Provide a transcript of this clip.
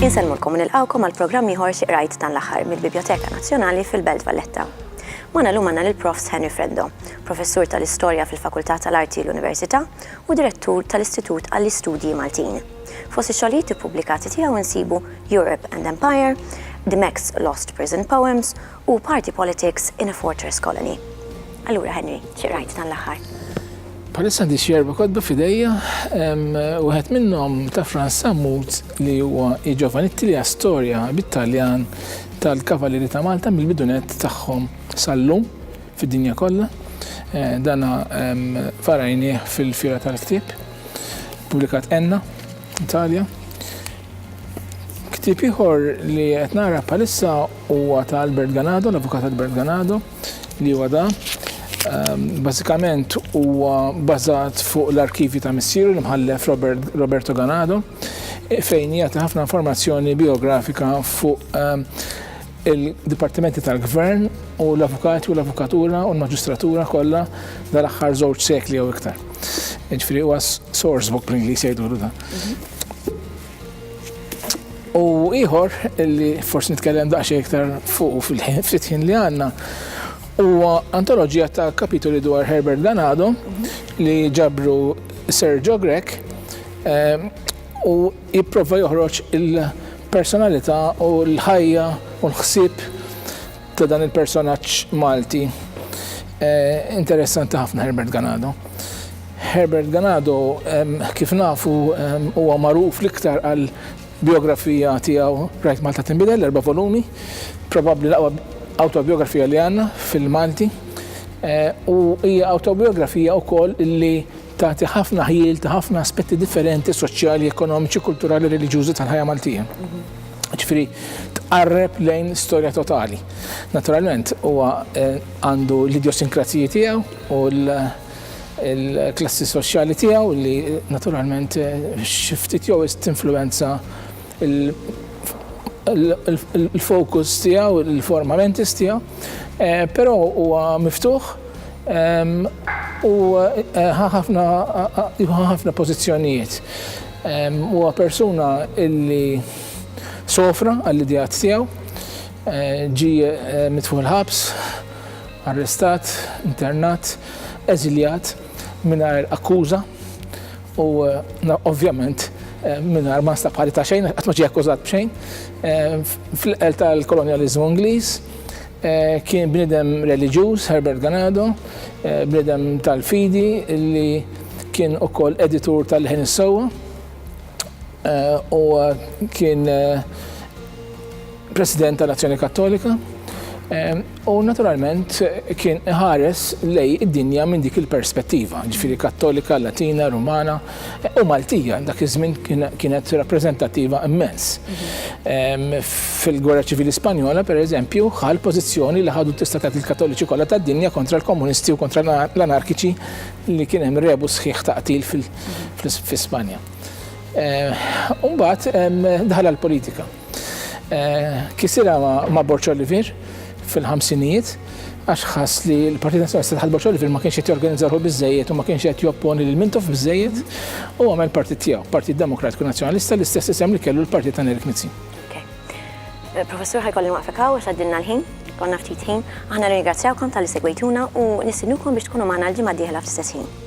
Insellmulkom u nilqgħukom għal programm ieħor Xi Qrajt dan l-Aħħar mill-Bibjoteka Nazzjonali fil-Belt Valletta. Magħna llum għandna lil Profs Henry Freddo, Professur tal-Istorja fil-Fakultà tal-Arti l-Università u Direttur tal-Istitut għall-Istudji Maltin. Fost ix-xogħlijiet ippubblikati tiegħu nsibu Europe and Empire, The Mex Lost Prison Poems u Party Politics in a Fortress Colony. Allura Henry, xi qrajt dan l-aħħar? Bħalissa għandi xi erba' kotba f'idejja, wieħed minnhom ta' Frans Sammut li huwa I Giovanitti li hija storja bit-Taljan tal-Kavalieri ta' Malta mill-bidunett tagħhom sal-lum fid-dinja kollha. Dana varajnieh fil-Fiera tal-Ktieb. Pubblikat Enna, Italja. Ktieb ieħor li qed nara bħalissa huwa ta' Albert Ganado, l-Avukat Albert Ganado, li huwa da. Ehm, bażikament huwa bażat fuq l-arkivji ta' missieru l-imħallef Roberto Ganado, e fejn jagħti ħafna informazzjoni biografika fuq ehm, il-dipartimenti tal-gvern u l-avukati u l-avukatura u l-maġistratura kollha dal-aħħar żewġ sekli jew iktar. Ġifieri huwa source book li jgħidu da. U ieħor li forsi nitkellem daqsxejn iktar fuq fil-ftit ħin li għandna huwa antoloġija ta' kapitoli dwar Herbert Ganado li ġabru Sergio Grek eh, u Jipprova joħroġ il-personalità u l-ħajja u l-ħsieb ta' dan il-personaġġ Malti interessanti ħafna Herbert Ganado. Herbert Ganado kif nafu huwa magħruf l-iktar għal bijografija tiegħu Rajt Malta Tinbidel, l-erba' volumi, probabbli l-aqwa awtobijografija li għandna fil-Malti u hija awtobijografija wkoll li Tagħti ħafna ħjiel ta' ħafna aspetti differenti soċjali, ekonomiċi, kulturali, reliġjużi tal-ħajja Maltija. Ġifieri tqarreb lejn storja totali. Naturalment huwa eh, għandu l-idiosinkraziji tiegħu u l- il-klassi soċjali tiegħu li naturalment eh, xi ftit jew tinfluwenza il-fokus tiegħu, il-forma mentis tiegħu, eh, però huwa miftuħ U ħa ħafna ħa ħafna pożizzjonijiet. Huwa persuna illi sofra għall-idejat tiegħu, ġi mitfuħ il-ħabs, arrestat, internat, eżiljat mingħajr akkuża u ovvjament mingħajr ma nstab ħati ta' xejn, qatt ma ġie akkużat b'xejn, fl-iqel tal-kolonjaliżmu Ingliż, Kien bniedem reliġjuż Herbert Ganado, bniedem tal-fidi li kien ukoll editur tal-Leħen is-Sewwa. Huwa kien President tal-Azzjoni Kattolika u naturalment kien iħares lejn id-dinja minn dik il-perspettiva, ġifieri Kattolika, Latina, Rumana. U Maltija għal dak iż-żmien kienet rappreżentattiva immens. Fil-Gwerra Ċivili Spanjola, pereżempju, ħal pożizzjoni li ħadu tista' tgħid il-Kattoliċi kollha tad-dinja kontra l-Komunisti u kontra l-Anarkiċi li kien hemm rebus sħiħ ta' qtil fi Spanja. Imbagħad daħal għall-politika. Kisirha ma' Borċ Olivier fil-ħamsinijiet għax ħass li l-Partit Nazzjonalista taħt Borċ Olivier ma kienx qed jorganizza ruħu biżejjed u ma kienx qed jopponi lil Mintoff biżejjed u għamel partit tiegħu, Partit Demokratiku Nazzjonalista, l-istess isem li kellu l-partit ta' Nerik Mizzi. Eh, professur ħajkolli waqfek hawn għax għaddilna l-ħin, konna ftit ħin. Aħna nirringrazzjawkom tal-li segwejtuna u nistinukom biex tkunu magħna l-ġimgħa d-dieħla fl-istess ħin.